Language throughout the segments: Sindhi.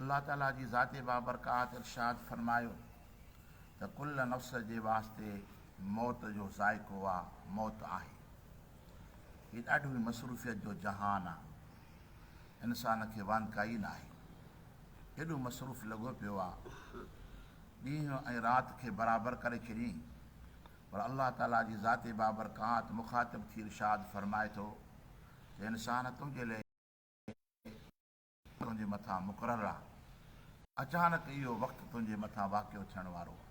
الله تعالي جي ذات بابرڪات ارشاد فرمايو ته ڪل نفس جي واسطي موت جو ذائقو آ موت آهي هي ڏاڍو ئي مصروفيت جو جهان آ انسان کي وانڌ ڪائي ناهي ايڏو مصروف لڳو پيو آ ڏينهن ۽ رات کي برابر ڪري ڇڏين پر الله تعالي جي ذات بابرڪات مخاطب ٿي ارشاد فرمائي ٿو ته انسان تنهنجي لئه تنهنجي مٿان مقرر آ. اچانڪ اهو وقت تنهنجي مٿان واقع ٿيڻ وارو آ.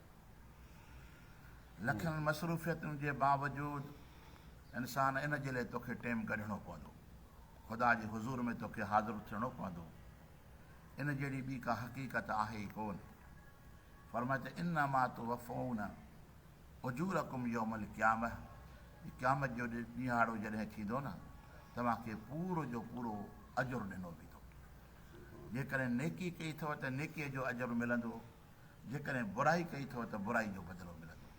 لکن مصروفيتن جي باوجود انسان ان جي لئي توکي ٽيم ڪڍڻو پوندو. خدا جي حضور ۾ توکي حاضر ٿيڻو پوندو. ان جهڙي ٻي ڪا حقيقت آهي ئي ڪون. فرمايو ته انما توفون. اجورڪم يوم القيامة، قيامت جو ڏيهاڙو جڏهن ٿيندو نه توهان کي پورو جو پورو اجر ڏنو ويندو. جيڪڏهن نيڪي ڪئي اٿو ته نيڪيء جو اجر ملندو، جيڪڏهن برائي ڪئي اٿو ته برائي جو بدلو ملندو.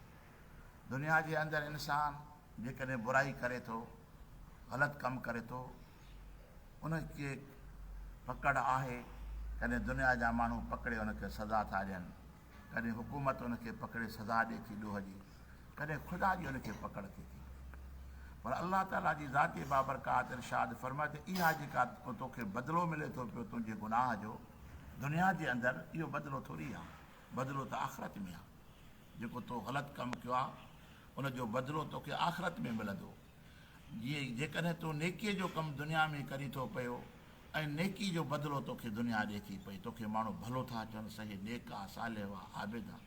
دنيا جي اندر انسان جيڪڏهن برائي ڪري ٿو، غلط ڪم ڪري ٿو، ان کي پڪڙ آهي، ڪڏهن دنيا جا ماڻهو پڪڙي ان کي سزا ٿا ڏين، ڪڏهن حڪومت ان کي پڪڙي سزا ڏئي ٿي ڏوهه جي، ڪڏهن خدا جي ان کي پڪڙ ٿي ٿي. پر الله تعاليٰ جي ذات بابرڪات ارشاد فرمايو ته اها جيڪا تو کي بدلو ملي ٿو پيو تنهنجي گناهه جو دنيا جي اندر اهو بدلو ٿوري آهي، بدلو ته آخرت ۾ آهي. جيڪو تو غلط ڪم ڪيو آهي ان جو بدلو توکي آخرت ۾ ملندو. جيڪڏهن تون نيڪيء جو ڪم دنيا ۾ ڪري ٿو پيو ۽ نيڪي جو بدلو توکي دنيا ڏئي ٿي پئي، توکي ماڻهو ڀلو ٿا چون سهي نيڪ آ، صالح آ، عابد آ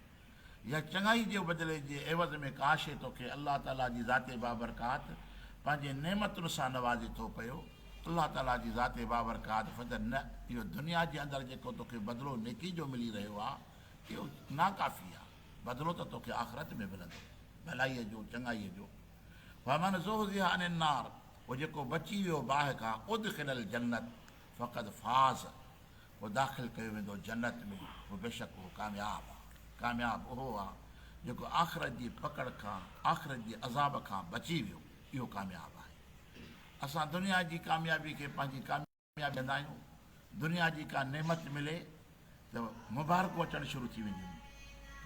يا چڱائي جي بدلي جي عيوض ۾ ڪا شيء توکي الله تعاليٰ جي ذات بابرڪات پنهنجين نعمتن سان نوازي ٿو پيو، الله تعاليٰ جي ذات بابرڪات فضل نه، اهو دنيا جي اندر جيڪو توکي بدلو نيڪي جو ملي رهيو آ، اهو ناڪافي آ، بدلو ته توکي آخرت ۾ ملندو، ڀلائيء جو، چڱائيء جو. فمن زحزح عن النار پوء جيڪو بچي ويو باهه کان ادخل الجنت فقد فاز پوء داخل ڪيو ويندو جنت ۾ پوء بيشڪ اهو ڪامياب آهي ڪامياب اهو آهي جيڪو آخرت جي پڪڙ کان آخرت جي عذاب کان بچي ويو اهو ڪامياب آهي اسان دنيا جي ڪاميابي کي پنهنجي پيا ڏيندا آهيون دنيا جي ڪا نعمت ملي ته مبارڪون اچڻ شروع ٿي وينديون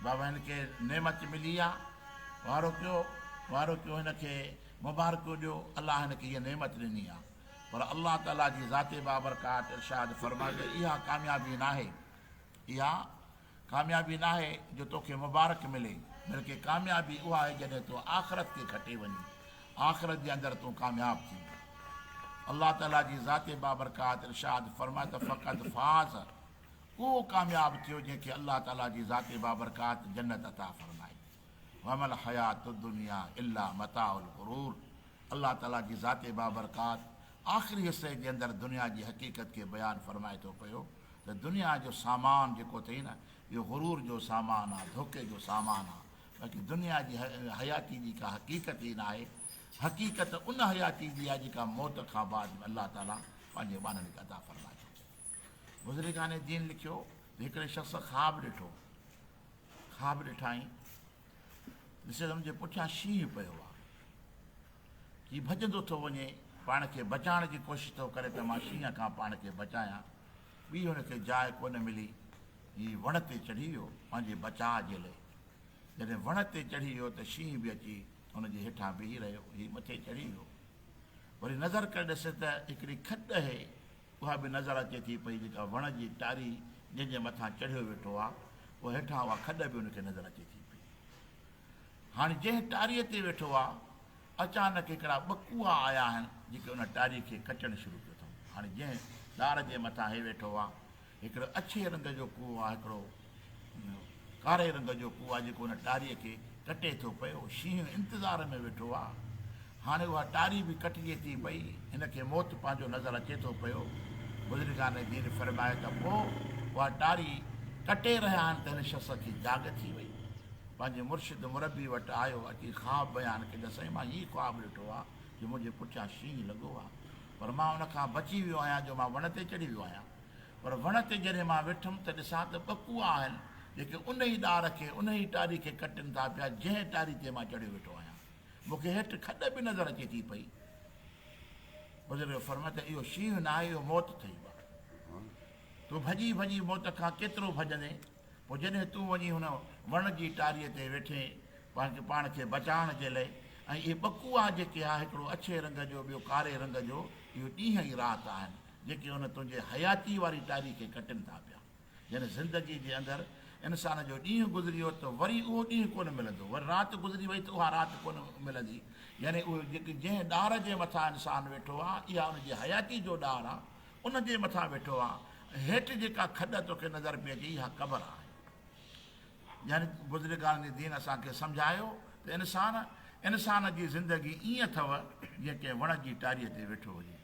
بابا هن کي نعمت ملي آ وارو ڪيو وارو ڪيو هن کي مبارڪون ڏيو الله هن کي هيء نعمت ڏني آ پر الله تعالي جي ذات بابرڪات ارشاد فرمائي ته اها ڪاميابي ناهي اها ڪاميابي ناهي جو توکي مبارڪ ملي، بلڪه ڪاميابي اها آهي جڏهن تو آخرت کي کٽي وڃين، آخرت جي اندر تون ڪامياب ٿين. الله تعالي جي ذات بابرڪات ارشاد فرمائي ته فقط فاز، اهو ڪامياب ٿيو جنهن کي الله تعالي جي ذات بابرڪات جنت عطا فرمائي. وما الحيات الدنيا الا متاع الغرور الله تعالي جي ذات بابرڪات آخري حصي جي اندر دنيا جي حقيقت کي بيان فرمائي ٿو پيو ته دنيا جو سامان جيڪو اٿئي نه اهو غرور جو سامان آ، ڌوڪي جو سامان آ، باقي دنيا جي حياتي جي ڪا حقيقت ئي ناهي، حقيقت ان حياتي جي آ جيڪا موت کان بعد ۾ الله تعاليٰ پنهنجي ٻانهن کي عطا فرمائي ٿو. بزرگان دين لکيو ته هڪڙي شخص خواب ڏٺو، خواب ڏٺائين، جسلم جي پٺيان شينهن پيو آ. هي ڀڄندو ٿو وڃي، پاڻ کي بچائڻ جي ڪوشش ٿو ڪري ته مان شينهن کان پاڻ کي بچايان. ٻي هن کي جاء ڪونه ملي. هي وڻ تي چڙهي ويو پنهنجي بچاء جي لئي. جڏهن وڻ تي چڙهي ويو ته شينهن به اچي هن جي هيٺان بيهي رهيو. هي مٿي چڙهي ويو. وري نظر ڪري ڏسي ته هڪڙي کڏ اهي. اها به نظر اچي ٿي پئي جيڪا وڻ جي ٽاري جنهن جي مٿان چڙهيو ويٺو آ پوء هيٺان اها کڏ به ان کي نظر اچي ٿي پئي. هاڻ جنهن ٽاري تي ويٺو آ اچانڪ هڪڙا ٻه ڪوئا آيا آهن جيڪي ان ٽاري کي ڪچڻ شروع ڪيو اٿئون. هاڻ جنهن ڏار جي مٿان هي ويٺو آ هڪڙو اڇي رنگ جو ڪوئو آ هڪڙو ان ڪاري رنگ جو ڪوئا جيڪو ان ٽاريء کي ڪٽي ٿو پيو. شينهن انتظار ۾ ويٺو آ. هاڻي اها ٽاري به ڪٽجي ٿي پئي. هن کي موت پنهنجو نظر اچي ٿو پيو. بزرگان دين فرمايو ته پوء اها ٽاري ڪٽي رهيا آهن ته هن شخص کي جاڳ ٿي وئي. پنهنجي مرشد مربي وٽ آيو. اچي خواب بيان ڪيو ته سائين مان هيء خواب ڏٺو آ جو منهنجي پٺيان شينهن لڳو آ. پر مان ان کان بچي ويو آهيان جو مان وڻ تي چڙهي ويو آهيان. پر وڻ تي جڏهن مان ويٺم ته ڏسان ته ٻه ڪوئا آهن جيڪي ان ئي ڏار کي ان ئي ٽاري کي ڪٽين ٿا پيا جنهن ٽاري تي مان چڙهيو ويٺو آهيان مون کي هيٺ کڏ به نظر اچي ٿي پئي بزرگ فرمايو ته اهو شينهن ناهي اهو موت اٿئي بابا تون ڀڄي ڀڄي موت کان ڪيترو ڀڄندين پوء جڏهن تون وڃي هن وڻ جي ٽاري تي ويٺين پنهنجي پاڻ کي بچائڻ جي لئي ۽ اهي ٻه ڪوئا جيڪي آهي هڪڙو اڇي رنگ جو ٻيو ڪاري رنگ جو اهو ڏينهن ۽ رات آهن جيڪي ان تنهنجي حياتيء واري ٽاري کي ڪٽن ٿا پيا. يعني زندگيء جي اندر انسان جو ڏينهن گذري ويو ته وري اهو ڏينهن ڪونه ملندو، وري رات گذري وئي ته اها رات ڪونه ملندي. يعني اهو جيڪي جنهن ڏار جي مٿان انسان ويٺو آ، اها ان جي حياتيء جو ڏار آ، ان جي مٿان ويٺو آ. ۽ هيٺ جيڪا کڏ توکي نظر پئي اچي، اها قبر آهي. يعني بزرگان دين اسان کي سمجهايو ته انسان، انسان جي زندگي ائين اٿئو، جيئن ڪنهن وڻ جي ٽاريء تي ويٺو هجي.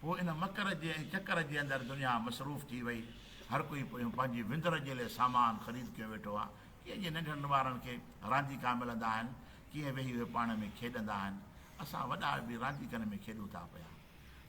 پوء ان مڪر جي ۽ چڪر جي اندر دنيا مصروف ٿي وئي. هر ڪوئي پنهنجي وندر جي لئه سامان خريد ڪيو ويٺو آ. ڪيئن جيئن ننڍڙن ٻارن کي رانديڪا ملندا آهن، ڪيئن ويهي اهي پاڻ ۾ کيڏندا آهن. اسان وڏا به رانديڪن ۾ کيڏون ٿا پيا.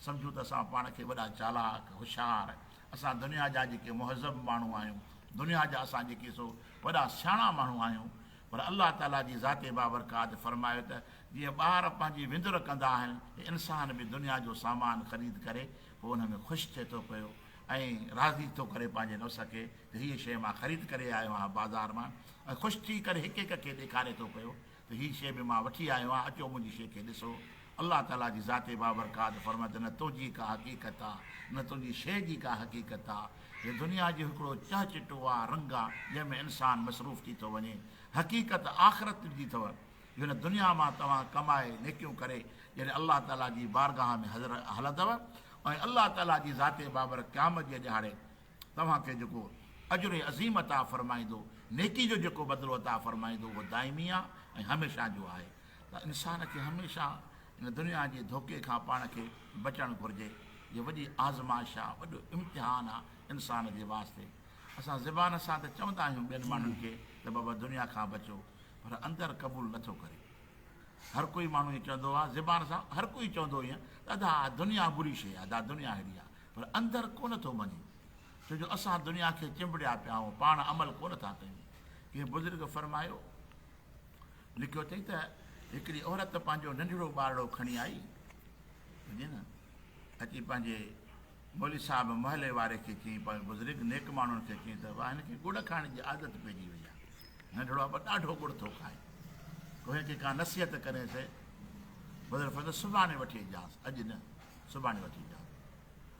سمجهون ته اسان پاڻ کي وڏا چالاڪ، هوشيار، اسان دنيا جا جيڪي مهذب ماڻهو آهيون، دنيا جا اسان جيڪي سو وڏا سياڻا ماڻهو آهيون، پر الله تعاليٰ جي ذات بابرڪات فرمايو ته جيئن ٻار پنهنجي وندر ڪندا آهن ته انسان به دنيا جو سامان خريد ڪري پوء ان ۾ خوش ٿئي ٿو پيو ۽ راضي ٿو ڪري پنهنجي نفس کي ته هيء شيء مان خريد ڪري آيو آهيان بازار مان ۽ خوش ٿي ڪري هڪ هڪ کي ڏيکاري ٿو پيو ته هيء شيء به مان وٺي آيو آهيان اچو منهنجي شيء کي ڏسو الله تعاليٰ جي ذات بابرڪات فرمايو ته نه تنهنجي ڪا حقيقت آهي نه تنهنجي شيء جي ڪا حقيقت آهي هي دنيا جو هڪڙو چهه چٽو آ رنگ آ، جنهن ۾ انسان مصروف ٿي ٿو وڃي. حقيقت آخرت جي اٿو، جو هن دنيا مان توهان ڪمائي، نيڪيون ڪري، جڏهن الله تعاليٰ جي بارگاهه ۾ حضر هلندؤ ۽ الله تعاليٰ جي ذات بابر قيامت جي ڏهاڙي توهان کي جيڪو اجر عظيم عطا فرمائيندو، نيڪي جو جيڪو بدلو عطا فرمائيندو، اهو دائمي آ ۽ هميشه جو آهي. ته انسان کي هميشه هن دنيا جي ڌوڪي کان پاڻ کي بچڻ گهرجي. هيء وڏي آزمائش آهي، وڏو امتحان آهي انسان جي واسطي. اسان زبان سان ته چوندا آهيون ٻين ماڻهن کي ته بابا دنيا کان بچو پر اندر قبول نٿو ڪري. هر ڪوئي ماڻهو ائين چوندو آهي زبان سان هر ڪوئي چوندو ائين ته ادا اها دنيا بري شيء آهي، ادا دنيا ههڙي آهي پر اندر ڪونه ٿو مڃي ڇو جو اسان دنيا کي چنبڙيا پيا آهيون، پاڻ عمل ڪونه ٿا ڪيون. ڪنهن بزرگ فرمايو. لکيو اٿئي ته هڪڙي عورت پنهنجو ننڍڙو ٻارڙو کڻي آئي ٻڌين اچي پنهنجي مولي صاحب محلي واري کي چين پنهنجي بزرگ نيڪ ماڻهن کي چين ته واهن کي ڳڙ کائڻ جي عادت پئجي وئي آهي ننڍڙو ابا ڏاڍو ڳڙ ٿو کائي ڪوهي کي ڪا نصيحت ڪري سي بزرگ فرمائي سڀاڻي وٺي اچجانس اڄ نه سڀاڻي وٺي اچجانس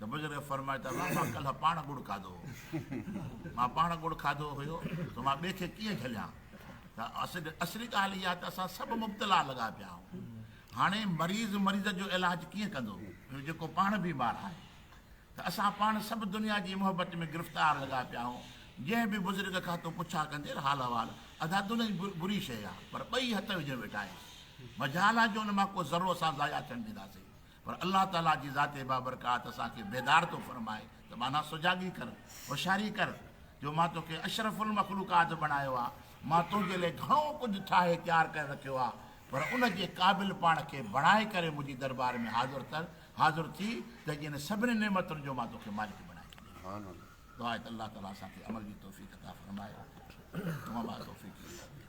ته بزرگ فرمايو ته الله مان ڪلهه پاڻ ڳڙ کاڌو هو مان پاڻ ڳڙ کاڌو هيو ته مان ٻئي کي ڪيئن جهليان ته اصل اصلي ڳالهه اها ته اسان سڀ مبتلا لڳا پيا آهيون هاڻي مريض مريض جو علاج ڪيئن ڪندو جو جيڪو پاڻ بيمار آهي ته اسان پاڻ سڀ دنيا جي محبت ۾ گرفتار لڳا پيا آهيون جنهن به بزرگ کان تو پڇا ڪندير حال احوال ادا دنيا جي بري شيء آهي پر ٻئي هٿ وجهي ويٺا آهيون مجال آهي جو ان مان ڪو ذرو اسان ضايع ٿيڻ ڏينداسين پر الله تعاليٰ جي ذات بابرڪات اسان کي بيدار ٿو فرمائي ته ٻانها سجاڳي ڪر، هوشياري ڪر، جو مان توکي اشرف المخلوقات بڻايو آهي، مان تنهنجي لئي گهڻو ڪجهه ٺاهي تيار ڪري رکيو آهي، پر ان جي قابل پاڻ کي بڻائي ڪري منهنجي دربار ۾ حاضر ٿر، حاضر ٿي، ته جنهن سڀني نعمتن جو مان توکي مالڪ بڻائي ڇڏيم. دعا آهي ته الله تعاليٰ اسان کي عمل جي توفيق عطا فرمائي. وما توفيقي الا بالله.